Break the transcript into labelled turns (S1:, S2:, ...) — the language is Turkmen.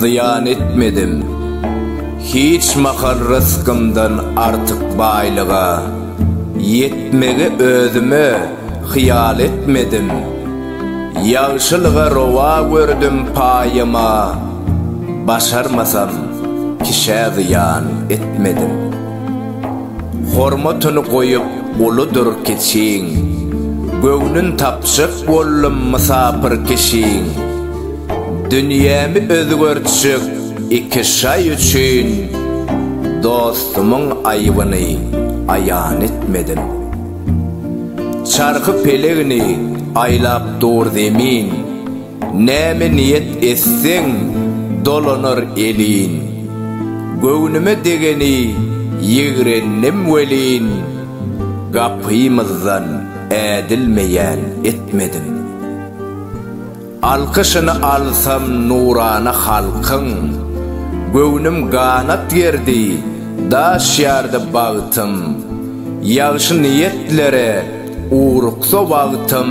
S1: Zyýan etmedim hiç mahal rysgymdan artyk baýlyga, Ýetmegi özüme hyýal etmedim, ýagşylyga rowa gördüm paýyma, Başarmasam kişä zyýan etmedim. Hormatyny goýup uludyr kiçiň. Göwnün tapjak boldum mysapyr kişiň. Dünýämi özgertjek iki şaý üçin dostumyň aýybyny aýan etmedim. Çarhy pelegini aýlap dur zemin. Näme niýet etseň, dolanar elin. Göwnüme degeni ýigrendim welin, Gapymyzdan ädilmeýän etmedim. Alkyşyny alsam nurana halkyň, Göwnüm ganat gerdi, daş ýardy bagtym. Ýagşy niýetlere ugruksa wagtym.